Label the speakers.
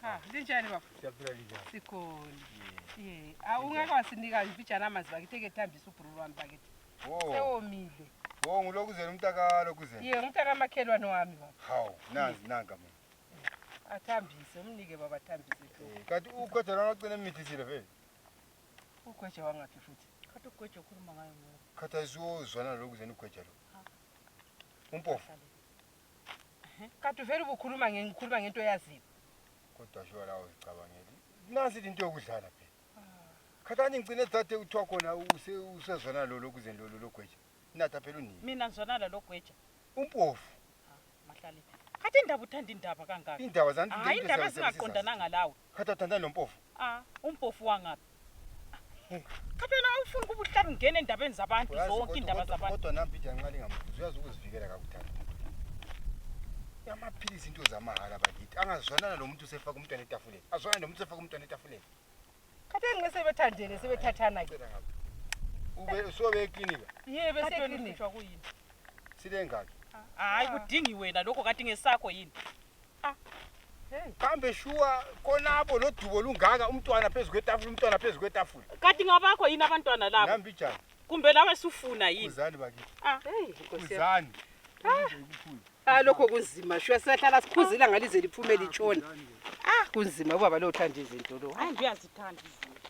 Speaker 1: Ah, linjani baba? Siyaphila linjani?
Speaker 2: Sikhona. Eh,
Speaker 1: awungeke wasinika imfijana amanzi bakithi ekethambisa ubhulu wami bakithi. Oh. Sewomile. Oh, ngulokuzela
Speaker 2: umntakalo kuzela. Ye, umntaka amakhelwane
Speaker 1: wami baba. Hawu, nazi nanka
Speaker 2: mina. Athambise,
Speaker 1: umnike baba athambise tu. Eh, kanti ugweja lona ocela
Speaker 2: emithisile vele.
Speaker 1: Ugweja wangaphi futhi? Khathi ugweja ukhuluma
Speaker 3: ngayo ngoba. Khathi ayizuzwa
Speaker 2: nalokuzena ugweja lo. Umpofu.
Speaker 1: Kade uvele ubukhuluma nge ngikhuluma ngento eyaziyo. Kodwa sho
Speaker 2: la uzicabangeli. Nasi into yokudlala phela. Khathani ngicine thathe uthiwa khona use usezona lolo kuze lolo logweja. Natha phela unini. Mina ngizona lalo gweja.
Speaker 3: Umpofu.
Speaker 2: Mahlale.
Speaker 3: Kade indaba uthanda indaba kangaka. Indaba zanti. Hayi indaba
Speaker 2: zingaqondananga
Speaker 3: lawo. Kade uthandana nompofu?
Speaker 2: Ah, umpofu
Speaker 3: wangaphi? Cha phela awufuni kuba uhlale ungena endabeni zabantu Uyazi zonke kodwa- indaba kodwa- zabantu. Kodwa nampi iyanqala ingamkhuzi
Speaker 2: uyazi ukuzivikela kakudala. Yamaphilisi into zamahhala bakithi. Angazwanana nomuntu usefaka umntwana etafuleni. Azwanana nomuntu usefaka umntwana etafuleni. Kade
Speaker 1: ngeke sebethandene sebethathana ke. Cela ngapha. Ube
Speaker 2: usobe eklinika. Yebo Kade wena beseklini.
Speaker 1: uhlutshwa kuyini?
Speaker 3: Sile ngaki.
Speaker 2: Hayi kudingi
Speaker 3: wena lokho kanti ngesakho yini? kambe
Speaker 2: shuwa konabo lodubo lungaka umntwana phezu kwetafula umntwana phezu kwetafula kati ngabakho yini
Speaker 3: abantwana labo nambijani kumbe
Speaker 2: lawe sufuna
Speaker 3: yini uzani bakithi
Speaker 2: ah hey uzani
Speaker 1: ah.
Speaker 2: ah lokho kunzima
Speaker 1: shuwa siyahlala sikhuzila ngalize liphume litshona ah kunzima
Speaker 3: ubaba lo
Speaker 1: uthanda izinto lo hayi uyazithanda izinto